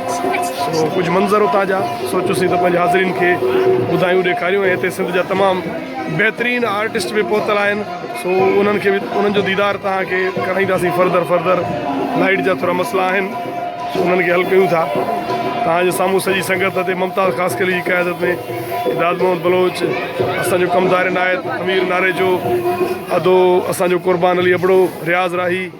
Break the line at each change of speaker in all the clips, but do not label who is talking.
سو ڪجهه منظر اتان جا سوچيوسين ته پنهنجي حاضرين کي ٻڌايون ڏيکاريون ۽ هتي سنڌ جا تمام بهترين آرٽسٽ به پهتل آهن سو انهن کي به انهن جو ديدار توهان کي ڪرائينداسين فردر فردر لائٽ جا ٿورا مسئلا آهن سو انهن کي حل ڪيون ٿا توهان جي سامهون سڄي سنگت هتي ممتاز خاص ڪلي جي قيادت ۾ داد محمد بلوچ اسان جو ڪمدار عنايت امير ناريجو ادو اسان جو قربان علي ابڙو رياض راهي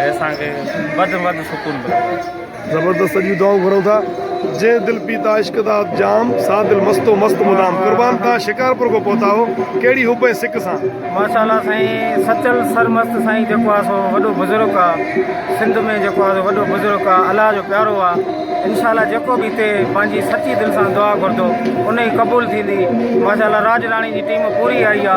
۽ اسان کي وڌ ۾ وڌ سڪون ملندو. زبردست سڄيون دعائون
گهرون ٿا. جنهن دل پيتا عشق دا جام، سا دل مست و مست مدام. قربان توهان شڪارپور کان پهتا آهو، ڪهڙي حب ۽ سڪ سان. ماشاء الله سائين
سچل سرمست سائين جيڪو آ سو وڏو بزرگ آ سنڌ ۾ جيڪو آ سو وڏو بزرگ آ الله جو پيارو آ انشاء الله جيڪو به هتي پنهنجي سچي دل سان دعا گهردو انهي قبول ٿيندي ماشاء الله راڄ راڻي جي ٽيم پوري آئي آ.